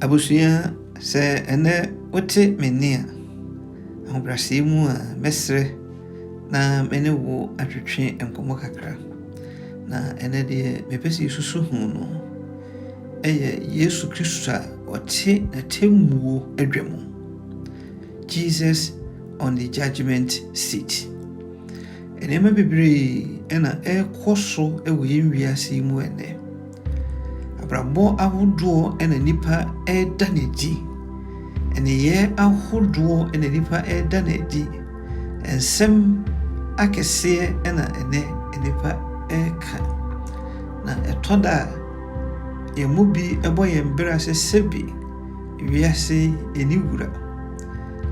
Abusua, sɛ ɛnnɛ wote me nne a, ahobrɛaseɛ mu a, mɛsrɛ na me ne wo atwetwe nkɔmmɔ kakra. Na ɛnɛ deɛ mepɛ sɛ yɛsusu ho no ɛyɛ Yesu Kristo a ɔte n'atemmuo adwa mu. Jesus on the judgment seat. Nneɛma bebree na ɛrekɔ so wɔ yɛn wiase yi mu ɛnnɛ. Abrabɔ ahodoɔ na nipa ɛreda no adi. Nneyɛɛ ahodoɔ na nipa ɛreda no adi. Nsɛm akɛseɛ na ɛnnɛ nnipa ɛreka. Na ɛtɔ da a, yɛn mu bi bɔ yɛn bra sɛ sɛbi wiase yi yɛn ne wura.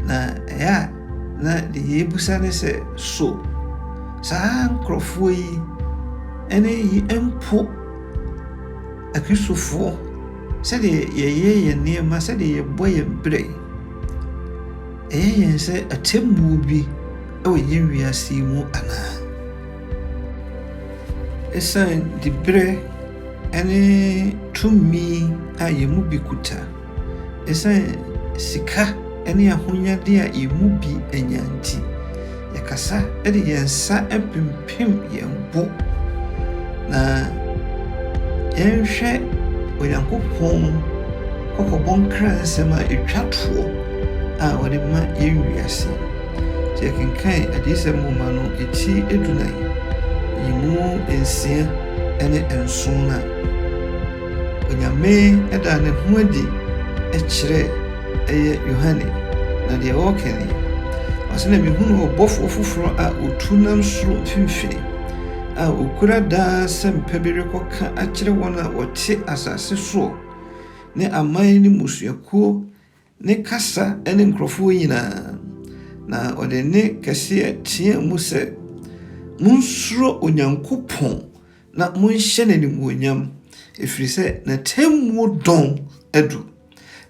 Na ɛyɛ a na deɛ yɛbisa ne sɛ, So saa nkurɔfoɔ yi ne yi mpo Akristofoɔ sɛdeɛ yɛyɛ yɛn nneɛma, sɛdeɛ yɛbɔ yɛn berɛ? Ɛyɛ yɛn sɛ atemmuo bi wɔ yɛn wiase yi mu anaa? Ɛsiane diberɛ ne tumi a yɛn mu bi kuta Esiane sika ne ahonyade a yɛn mu bi anya nti, yɛkasa de yɛn nsa pimpim yɛn bo na yɛnhwɛ Onyankopɔn kɔkɔbɔ nkransɛm a etwa toɔ a ɔde ma yɛn wiase. Sɛ yɛkenkan Adiyisɛm nwoma no ti adunan yi mu nsia ne nson no a, Onyame daa ne ho adi kyerɛɛ ɛyɛ Yohane, na deɛ ɔreka nie, ɔse, Na mehunuu ɔbɔfoɔ foforɔ a ɔtu nam soro mfimfini, a ɔkura daa asɛmpa bi rekɔka akyerɛ wɔn a wɔte asase soɔ, ne aman ne mmusuakuo Ne kasa ne nkurɔfoɔ nyinaa, na ɔde nne kɛseɛ teaa mu sɛ, Monsuro Onyankopɔn na monhyɛ no animuonyam, ɛfiri sɛ n'atemmuo dɔn adu,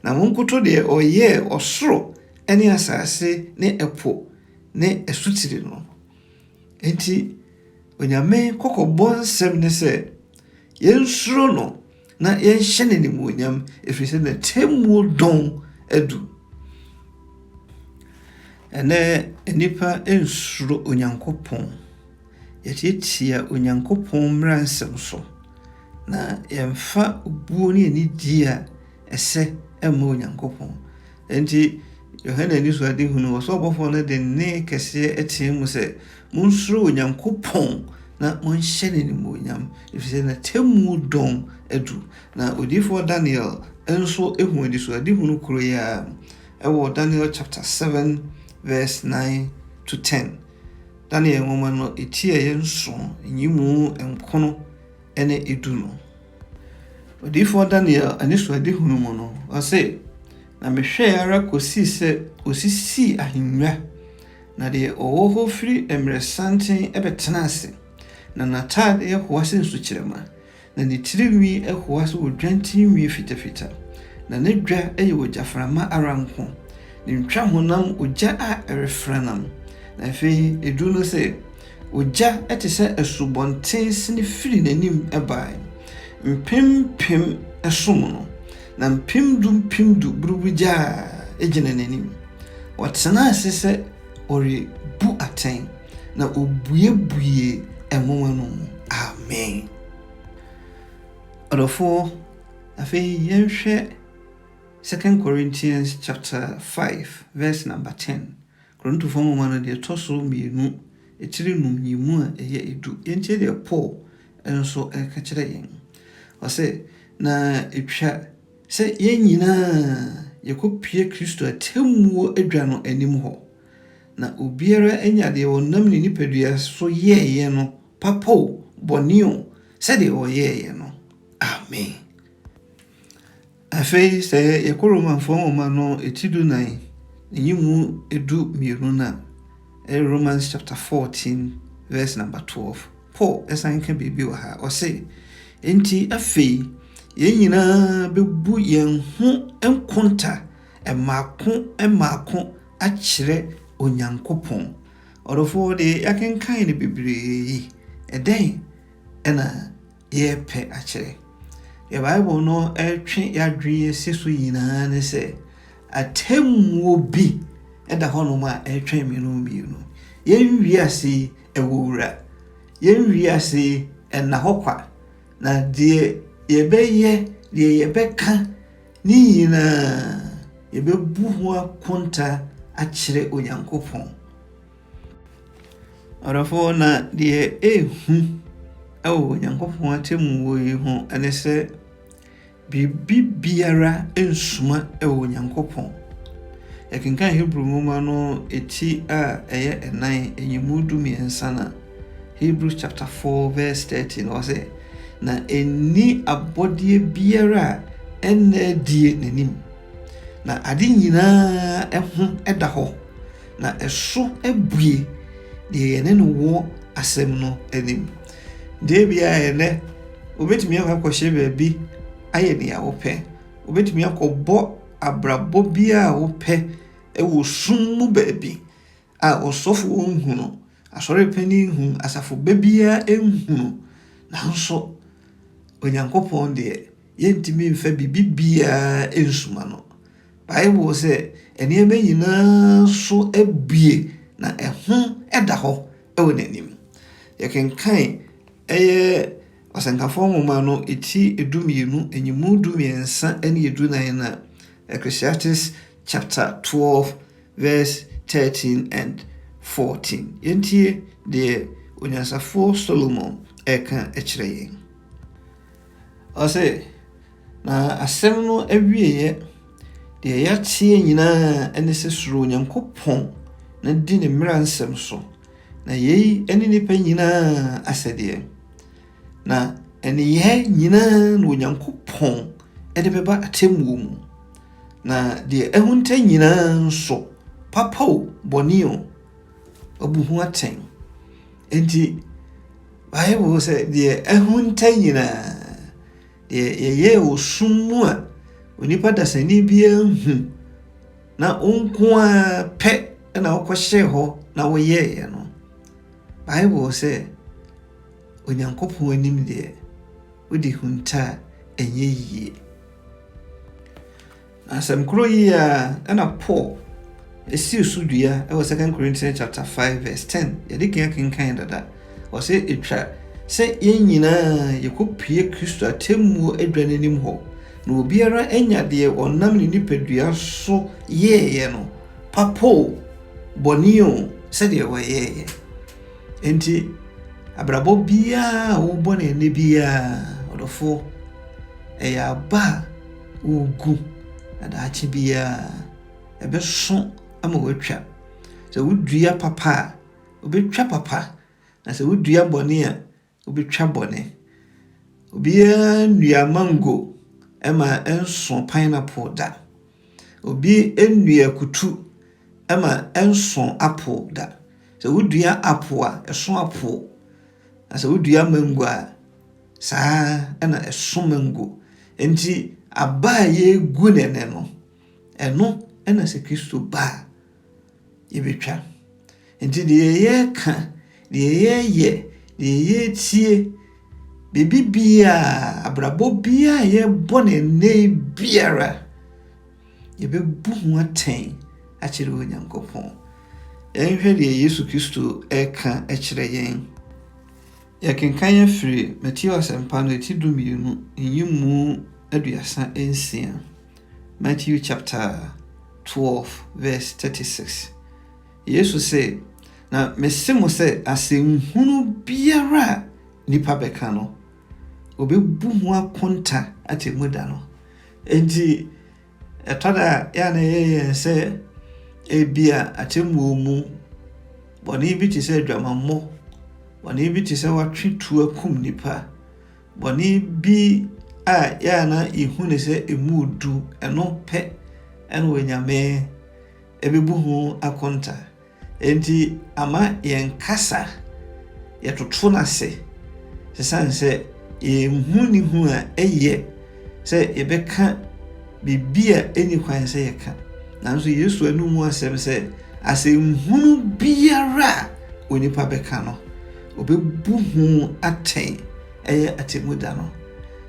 na monkoto deɛ ɔyɛɛ ɔsoro ne asase ne ɛpo ne asutire no. Enti Onyame kɔkɔbɔ nsɛm ne sɛ, Yɛnsuro no, na yɛnhyɛ no animuonyam, ɛfiri sɛ n'atemmuo dɔn adu. Ɛnɛ nnipa nsuro Onyankopɔn. Yɛtiatia Onyankopɔn mmara nsɛm so, na yɛmfa obuo ne anidie a ɛsɛ mma Onyankopɔn. Enti Yohane anisoadehu no, ɔsoro ɔbɔfoɔ no de nne kɛseɛ teɛ mu sɛ, Monsuro Onyankopɔn na monhyɛ no animuonyam, ɛfiri sɛ n'atemmuo dɔn adu. Na odiyifoɔ Daniel nso hu anisoadehu no koro yi ara mu. Ɛwɔ Daniel chapter 7 verse 9 to 10. Daniel nwoma no, ɛtiaeɛ nson, nyimu nkono ne edu no. Odiyifoɔ Daniel anisoadehunu mu no, ɔse, Na mehwɛɛ ara kɔsii sɛ ɔsisii ahennwa, na deɛ ɔwɔ hɔ firi mmerɛsanten bɛtenaa ase, na n'ataadeɛ hoa sɛ nsukyerɛma, na ne tirinwi hoa sɛ odwan tirinwi fitafita, na ne dwa yɛ ogyaframa ara nko, ne ntwahonam ogya a ɛrefranam, na afei ɛduru no sɛ, Ogya te sɛ asubɔnten sen firii n'anim bae, mpem mpem som no, na mpem du mpem du buruburuw gya gyina n'anim. Ɔtenaa ase sɛ ɔrebu atɛn, na obuebuee nwoma no mu. Amen. Ɔdɔfo, afei yɛnhwɛ Second Corinthians chapter five verse number ten. Korintofoɔ nwoma no deɛ ɛtɔ so mmienu akyiri nnum yi mu a ɛyɛ du. Yɛntie deɛ Paul nso reka kyerɛ yɛn. Ɔse, Na ɛtwa sɛ yɛn nyina ara yɛkɔpue Kristo atemmuo adwa no anim hɔ, na obiara nya deɛ ɔnam ne nipadua so yɛeɛ no, papa o, bɔne o, sɛdeɛ ɔyɛeɛ no. Amen. Afei sɛ yɛkɔ Romanfoɔ nwoma no ti dunan ne yi mu du mmienu no a, ɛyɛ Romans chapter fourteen verse number twelve. Paul san ka biribi wɔ ha, ɔse, Enti afei yɛn nyinaa bɛbu yɛn ho nkonta mmaako mmaako akyerɛ Onyankopɔn. Ɔdɔfoɔ deɛ yɛakenkan no bebree yi, ɛdɛn na yɛrepɛ akyerɛ. Deɛ Bible no retwe yɛn adwene asi so nyinaa ne sɛ, atemmuo bi da hɔnom a ɛretwɛn me no mmienu. Yɛn wiase yi ɛwɔ wura. Yɛn wiase yi ɛnna hɔ kwa. Na deɛ yɛbɛyɛ, deɛ yɛbɛka ne nyinaa, yɛbɛbu ho akonta akyerɛ Onyankopɔn. Ɔdɔfoɔ, na deɛ ɛrehu wɔ Onyankopɔn atemmuo yi ho ne sɛ biribi biara nsuma wɔ Onyankopɔn. Yɛkenkan Hebri nwoma no ti a ɛyɛ ɛnan, nyimu du mmiɛnsa na Hebri chapter 4 verse 30 na ɔsɛ, na ɛnni abɔdeɛ biara a ɛnna adie n'anim, na ade nyinaa ho da hɔ. na ɛso abue deɛ yɛne no wɔ asɛm no anim. Deɛ bia ɛnɛ wobɛtumi akɔ akɔhyɛ baabi ayɛ nea wopɛ wobɛtumi akɔbɔ abrabɔ bi a wopɛ wɔ sum mu baabi a ɔsɔfoɔ nhunu asɔre panin nhunu asafo baabiara nhunu nanso onyankopɔn deɛ yɛntumi mfa biribi biara nsuma no Bible sɛ nneɛma nyinaa so abue na ɛho da hɔ wɔ n'anim. Yɛkenkan ɛyɛ Ɔsɛnkafoɔ nwoma no ti edumienu nyimu dumiɛnsa ne edunan no a, Ecclesiastes chapter 12 verse 13 and 14. Yɛntie deɛ onyansafoɔ Solomon ɛka kyerɛ yɛn. Ɔse, Na asɛm no awieeɛ, deɛ yɛateɛ nyinaa ne sɛ suro Onyankopɔn na di ne mmara nsɛm so, na yei ne nnipa nyinaa asɛdeɛ. Na nneyɛɛ nyinaa na Onyankopɔn de bɛba atemmuo mu, na deɛ ahunta nyinaa nso, papa o, bɔne o, wabu ho atɛn. Enti, Bible sɛ deɛ ahunta nyinaa, Deɛ yɛyɛɛ wɔ sum mu a onipa dasani biara nhu na wo nko ara pɛ na wokɔhyɛɛ hɔ na woyɛeɛ no, Bible sɛ Onyankopɔn anim deɛ wode huntaa ɛnyɛ yie. Asɛm koro yi ara na Paul sii so dua wɔ 2 Corinthians chapter 5 verse 10. Yɛde kan akenkan dada. Ɔsɛ etwa sɛ yɛn nyinaa yɛkɔpue Kristo atemmuo adwa no anim hɔ, na obiara anya deɛ ɔnam ne nipadua so yɛeɛ no, papo o, bɔne o, sɛdeɛ wɔyɛeɛ. Enti, abrabɔ biara a wobɔ no ɛnɛ biara, ɔdɔfoɔ, ɛyɛ aba a wogu na daakye biara ɛbɛso ama wɔatwa. Sɛ wodua papa a, wobɛtwa papa, na sɛ wodua bɔne a, wobɛtwa bɔne. Obiara nnua mango ma ɛnso pineapple da. Obi nnua akutu ma ɛnso apple da. Sɛ wodua apple a, ɛso apple, na sɛ wodua mango a, Saa ara na ɛso mango. Enti aba a yɛregu no ɛnɛ no, ɛno na sɛ Kristo ba a, yɛbɛtwa. Enti deɛ yɛreka, deɛ yɛreyɛ, deɛ yɛretie, biribi biara, abrabɔ biara a yɛbɔ no ɛnɛ yi biara, yɛbɛbu ho atɛn akyerɛ Onyankopɔn. Yɛnhwɛ deɛ Yesu Kristo reka kyerɛ yɛn. Yɛkenkan afiri Mateo Asɛmpa no eti dumienu nyimu aduasa nsia, Matthew chapter 12 verse 36. Yesu se, Na mese mo sɛ asɛmhunu biara a nnipa bɛka no, wɔbɛbu ho akonta atemmuda no. Enti Ɛtɔ da a, ɛyɛ a na ɛyɛ yɛn sɛ ebia atemmuo mu bɔne bi te sɛ adwamammɔ, bɔne bi te sɛ watwe tuo akum nipa, bɔne bi a ɛyɛ a na yɛhu ne sɛ ɛmu du ɛno pɛ ɛna onyame ɛbɛbu ho akonta. Enti ama yɛn kasa yɛ toto no ase esiane sɛ yɛnhu ne hu a ɛyɛ sɛ yɛbɛka biribi a ɛnni kwan sɛ yɛka. Nanso Yesu anom mu asɛm sɛ asɛnhunu biara a onipa bɛka no, ɔbɛbu ho atɛn ɛyɛ atemmu da no.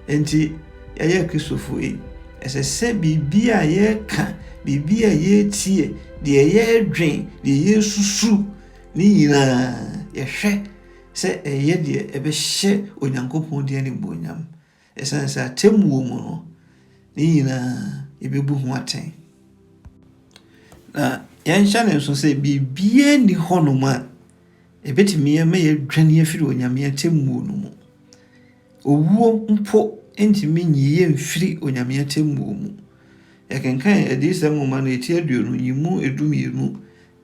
Enti yɛyɛ Kristofo yi, Ɛsɛ sɛ biribi a yɛka, biribi a yɛretie, deɛ yɛredwen, deɛ yɛresusu, ne nyinaa yɛhwɛ sɛ ɛyɛ deɛ ɛbɛhyɛ Onyankopɔn din animuonyam. Ɛsiane sɛ atemmuo mu no, ne nyinaa yɛbɛbu ho atɛn. Na yɛnhyɛ no nso sɛ biribiara nni hɔnom a ɛbɛtumi ama yɛadwane afiri Onyame atemmuo no mu. Owuo mpo ntumi nyi yɛn mfiri Onyame atɛmmuo mu. Yɛkenkan Adiyisɛm nwoma no eti aduonu yi mu edu mmienu,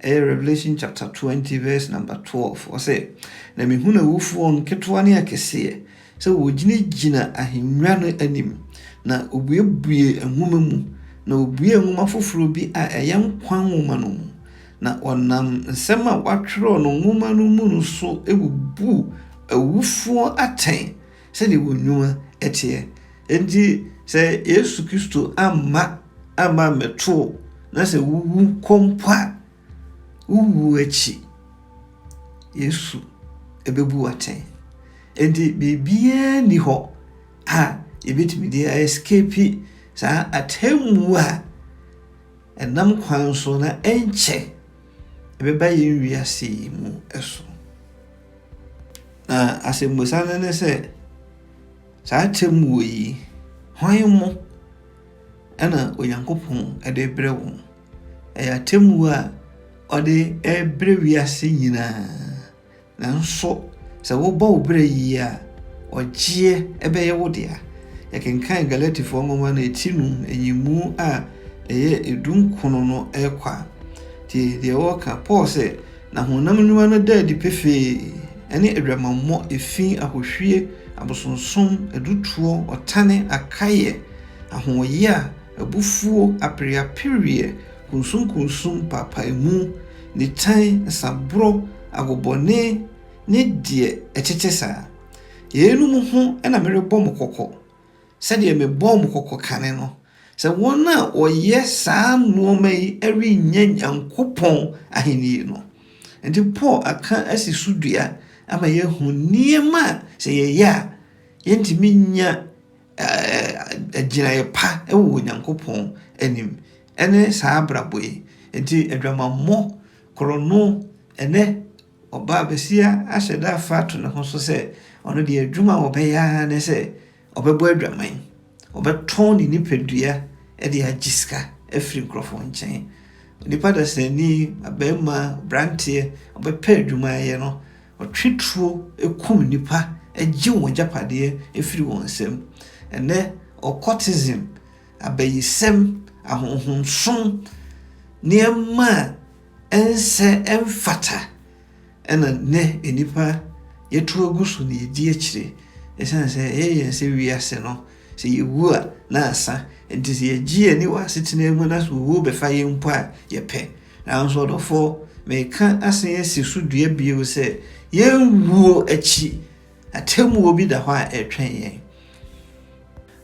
ɛyɛ Revelation chapter twenty verse number twelve, ɔse, Na mehunu awufoɔ, nketewa ne akɛseɛ, sɛ wɔgyinagyina ahennwa no anim, na wɔbuebuee nwoma mu, na wɔbuee nwoma foforɔ bi a ɛyɛ nkwa nwoma no mu, Na ɔnam nsɛm a wɔatwerɛ no nwoma no mu no so bubuu awufoɔ atɛn sɛdeɛ wɔn nnwuma teɛ. Enti sɛ Yesu Kristo amma amma ammɛto wo na sɛ wowu kɔ mpo a, wo wuo akyi, Yesu bɛbu wo atɛn. Enti biribiara nni hɔ a yɛbɛtumi de a escape saa atemmuo a Ɛnam kwan so na ɛnkyɛ ɛbɛba yɛn wiase yi mu so. Na asɛmmisa no ne sɛ, saa atemmuo yi, hwan mo ɛna Onyankopɔn de brɛ wɔn? Ɛyɛ atemmuo a ɔde rebrɛ wiase nyinaa. Nanso sɛ wobɔ wo bra yiye a, ɔgyeɛ bɛyɛ wo dea. Yɛkenkan Galatifoɔ nwoma no ti num nyimu a ɛyɛ edunkron no rekɔ a, tie deɛ wɔka. Paul se, Na honam nnwuma no da adi pefee, ɛne adwamammɔ, efi, ahohwie, abosonsom, adutoɔ, ɔtane, akaeɛ, ahoɔyaa, abufuo, apereapereɛ, Kunsunkunsun paapaemu, nitan, nsaboro, agobɔne, ne deɛ ɛtete saa. Yeinom ho na merebɔ mo kɔkɔ, sɛdeɛ mebɔɔ mo kɔkɔ kane no, sɛ wɔn a wɔyɛ saa nnoɔma yi rennya Nyankopɔn ahennie no. Enti Paul aka asi so dua ama yɛahu nneɛma a sɛ yɛyɛ a, yɛrentumi nnya gyinaeɛ pa wɔ Onyankopɔn anim. Ɛne saa abrabɔ yi. Enti adwamammɔ, korɔno, ne ɔbaa basia ahyɛ da afa ato ne ho so sɛ ɔno deɛ adwuma a ɔbɛyɛ ara ne sɛ ɔbɛbɔ adwaman, ɔbɛtɔn ne nipadua de agye sika afiri nkurɔfoɔ nkyɛn. Onipa dasani, abarima, abranteɛ, ɔbɛpɛ adwuma ayɛ no, ɔtwe tuo kum nnipa gye wɔn agyapadeɛ firi wɔn nsam. Ɛnnɛ, occultism abayisɛm, ahonhonsom, nneɛma a ɛnsɛ, ɛmfata na nnɛ nnipa yɛto agu so na yɛdi akyire. Ɛsiane sɛ ɛyɛ yɛn sɛ wiase no, sɛ yɛwu a na asa. Nti sɛ yɛgye yɛn ani wɔ asetena mu na sɛ owuo bɛfa yɛn mpo a, yɛpɛ. Nanso ɔdɔfoɔ, meka asen asi so dua bio sɛ yɛn wuo akyi Atemmuo bi da hɔ a ɛretwɛn yɛn.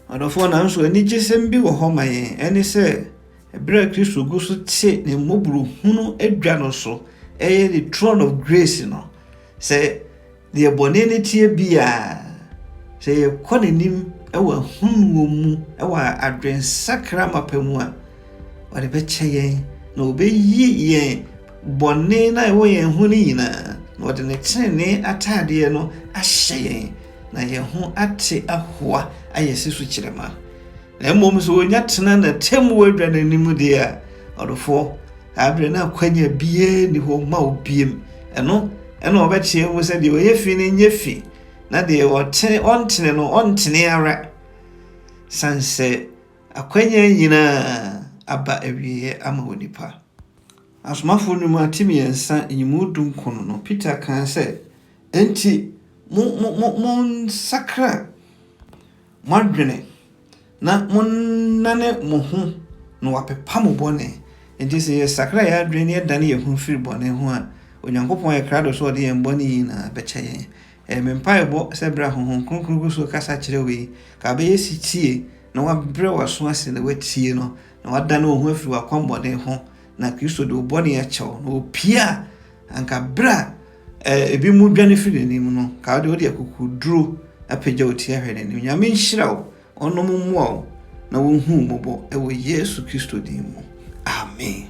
Ɔdɔfoɔ, nanso anigyesɛm bi wɔ hɔ ma yɛn. Ɛne sɛ, berɛ a Kristo gu so te ne mmɔborɔhunu adwa no so, ɛyɛ ne throne of grace no, sɛ deɛ bɔne no teɛ biara, sɛ yɛkɔ n'anim wɔ ahunuo mu wɔ adwensakra mapa mu a, ɔde bɛkyɛ yɛn na ɔbɛyi yɛn Bɔne no a ɛwɔ yɛn ho no nyinaa, na ɔde ne trenee ataadeɛ no ahyɛ yɛn, na yɛn ho ate ahoa ayɛ sɛ sukyerɛma. Na mmom sɛ ɔnya tena n'atemmuo adwa no anim deɛ a, ɔdɔfoɔ, saa berɛ no akwanya biara nni hɔ ma wo biom. Ɛno na ɔbɛteɛ mu sɛ, Deɛ ɔyɛ fi no nyɛ fi, na deɛ ɔtene ɔntene no ɔntene ara, sane sɛ akwanya nyinaa aba awieɛ ama onipa. Asomafo no mu atsemiɛnsa nye mu dunkron no, Peter kãa sɛ, Ntsi mo mo mo monsakra mo adwene na monnane mo ho na wɔapepa mo bɔne. Ntsi sɛ yɛsakra hɛn adwene na yɛdan hɛn ho fir bɔne ho a, Onyankopɔn ayɛ krado sɛ ɔdze hɛn bɔne nyina bɛkyɛ hɛn. Ɛyɛ me mpaabɔ sɛ ber a Honhom Kronkron gu so rekasa akyerɛ wo yi, nka abɛyɛ setsie na wɔabrɛ w'aso ase na woetsie no na wadane wo ho afiri w'akwammɔne ho, na Kristo de wo bɔne akyɛ wo, na opie a, anka berɛ a eh, ebi mu dwane firi n'anim no, ka wode wode akokoduro apagya wo ti ahwɛ n'anim. Nyame nhyira wo, ɔnom mmoa wo, na wɔnhu mmɔbɔ wɔ Yesu Kristo din mu. Amen.